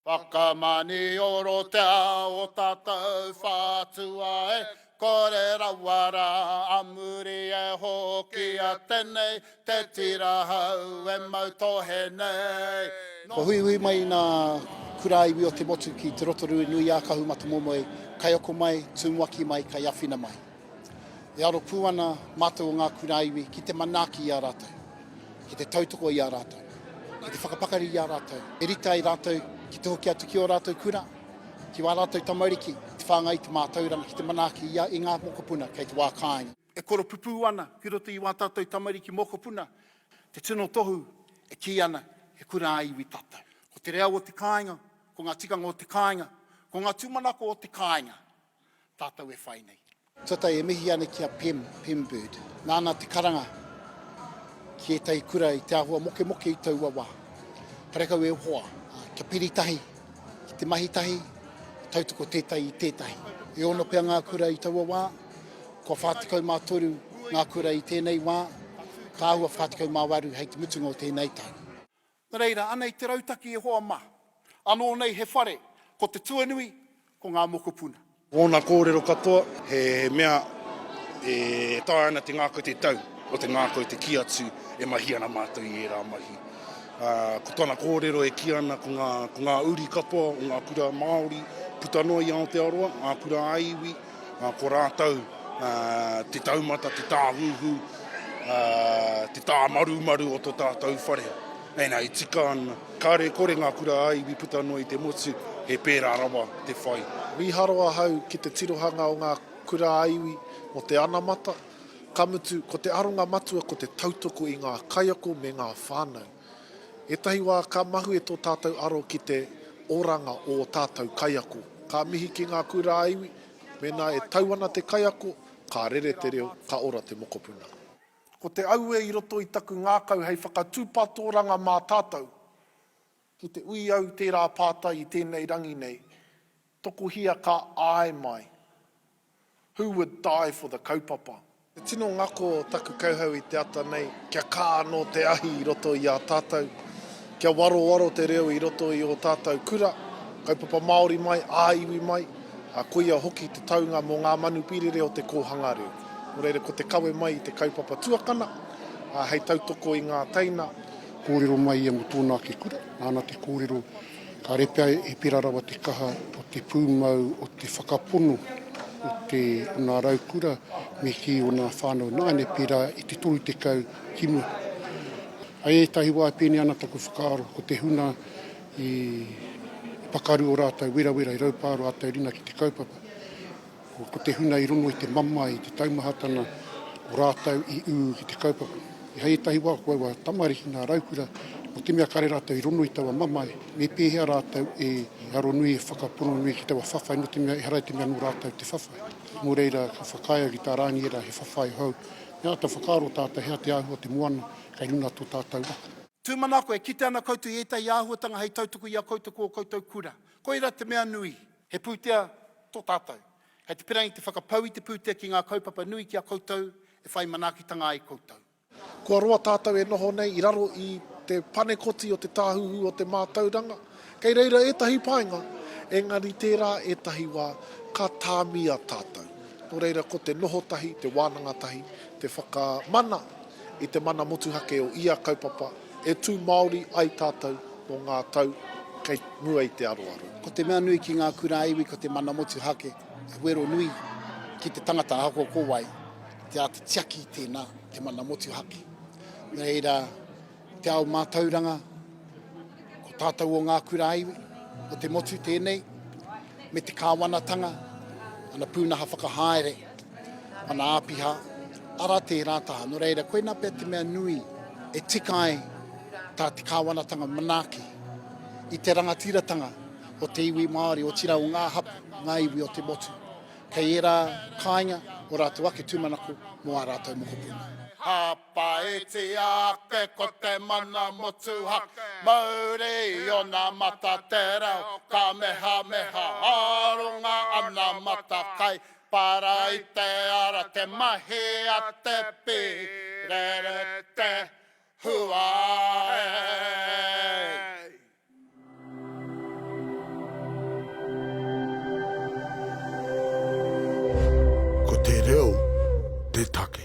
Whakamanioro te ao o tatou whatua e kore rawa ra, a muri e hoki a tenei te tira hau e mau tohe nei. Kua huihui mai nga kura iwi o te motu ki Te Rotorui nui a Kahumatamomoe, kai oko mai, tumuaki mai, kai awhina mai. E aro pū ana mātou o ngā kura iwi ki te manaaki i a rātou, ki te tautoko i a rātou, ki te whakapakari i a rātou. E rite ai rātou ki te hoki atu ki ō rātou kura, ki wā rātou tamariki, ki te whāngai i te mātauranga, ki te manaaki i ngā mokopuna kei te wā kāinga. E koropupū ana ki roto i wā tātou tamariki mokopuna te tino tohu e kī ana he kura-ā-iwi tātou. Ko te reo o te kāinga, ko ngā tikanga o te kāinga, ko ngā tūmanako o te kāinga, tātou e whai nei. Tuatahi e mihi ana ki a Pem, Pem Bird. Nāna te karanga ki ētahi kura i te āhua mokemoke i taua wā. Karekau e hoa, kia piri tahi ki te mahi tahi, tautoko tētahi i tētahi. E ono pea ngā kura i taua wā, kua 43 ngā kura i tēnei wā, ka āhua 48 hei te mutunga o tēnei tau. Nā reira, anei te rautaki e hoa mā. Anō nei he whare, ko te tuanui, ko ngā mokopuna. Ōna kōrero katoa, he mea e taea ana te ngākau te tau o te ngākau te kī atu e mahi ana mātou i ērā mahi. Ā, ko tana kōrero e kī ana ko ngā, ko ngā uri katoa o ngā kura Māori puta noa i Aotearoa, ngā kura-ā-iwi, Ko rātou te taumata, te tāhuhu, te tāmarumaru o to tātou whare. Ena, e tika ana. Kāre kore ngā kura a iwi puta noa i te motu, he pērā rawa te whai. Mīharo ahau ki te tirohanga o ngā kura a iwi mō te anamata, ka mutu, ko te aronga matua ko te tautoko i ngā kaiako me ngā whānau. Ētahi wā ka mahue tō tātou aro ki te oranga o ō tātou kaiako. Ka mihi ki ngā kura ā-iwi, mēnā e tau ana te kaiako, ka rere te reo, ka ora te mokopuna. Ko te auē i roto i taku ngākau hei whakatūpatooranga mā tātou ki te ui au tērā pātai i tēnei rangi nei, tokohia ka āe mai, Who would die for the kaupapa? He tino ngako taku kauhau i te ata nei kia kā anō te ahi i roto i a tātou, kia warowaro te reo i roto i ō tātou kura, kaupapa Māori mai, ā-iwi mai, ā, koia hoki te taunga mō ngā manupīrere o te kōhanga reo. Nō reira, ko te kawe mai i te kaupapa tuakana, ā, hei tautoko i ngā teina, kōrero mai ia mō tōna ake kura, nāna te kōrero Kāre pea e pērā rawa te kaha o te pūmau o te whakapono o te o ngā raukura me kī o ngā whānau nāianei pērā i te 30 ki mua. I ētahi wā e pēnei ana taku whakaaro ko te hunga i pakaru ō rātou werawera i raupā ā rātou ringa ki te kaupapa. Ko te huna i rongo i te mamae, i te taumahatana o rātou i ū ki te kaupapa. I hei ētahi wā ko aua tamariki ngā raukura, nō te mea kare rātou i rongo i taua mamae, me pēhea rātou e aronui, e whakapono nui ki taua whawhai, nō te mea ehara i te mea nō rātou te whawhai. Nō reira, ka whakaae au ki tā Rāngi ērā he whawhai hou. Me āta whakaaro tātou he aha te āhua o te moana kei runga a tō tātou ako. Tūmanako, e kite ana koutou i ētahi āhuatanga hei tautoko i a koutou ko ō koutou kura. Koirā te mea nui. He pūtea tō tātou. Kei te perangi te whakapau i te pūtea ki ngā kaupapa nui ki a koutou e whai manaakitanga ai koutou. Kua roa tātou e noho nei i raro i te panekoti o te Tāhuhu o te Mātauranga. Kei reira ētahi painga, engari tērā ētahi wā ka tāmia tātou. Nō reira ko te noho tahi, te wānanga tahi, te whakamana i te mana motuhake o ia kaupapa, E tū Māori ai tātou mō ngā tau kei mua i te aroaro. Ko te mea nui ki ngā kura iwi ko te mana motuhake, he wero nui ki te tangata ahakoa ko wai, te āta tiaki tēnā, te mana motuhake. Nō reira, te ao mātauranga, ko tātou o ngā kura iwi, ko te motu tēnei, me te kāwanatanga, ana pūnaha whakahaere. Ana āpiha, ara tērā taha. Nō reira, koinā pea te mea nui e tika ai tā te kāwanatanga manaaki i te rangatiratanga o te iwi Māori, otirā o ngā hapū, ngā iwi o te motu. Kei ērā kāinga ō rātou ake tūmanako mō ā rātou mokopuna. Hāpaitia ake ko te mana motuhake, mauri i ōna mata te reo, kamehameha, aronga ana matakai, Paraite ara te mahi a te pīrere te huaei. Ko te reo te take.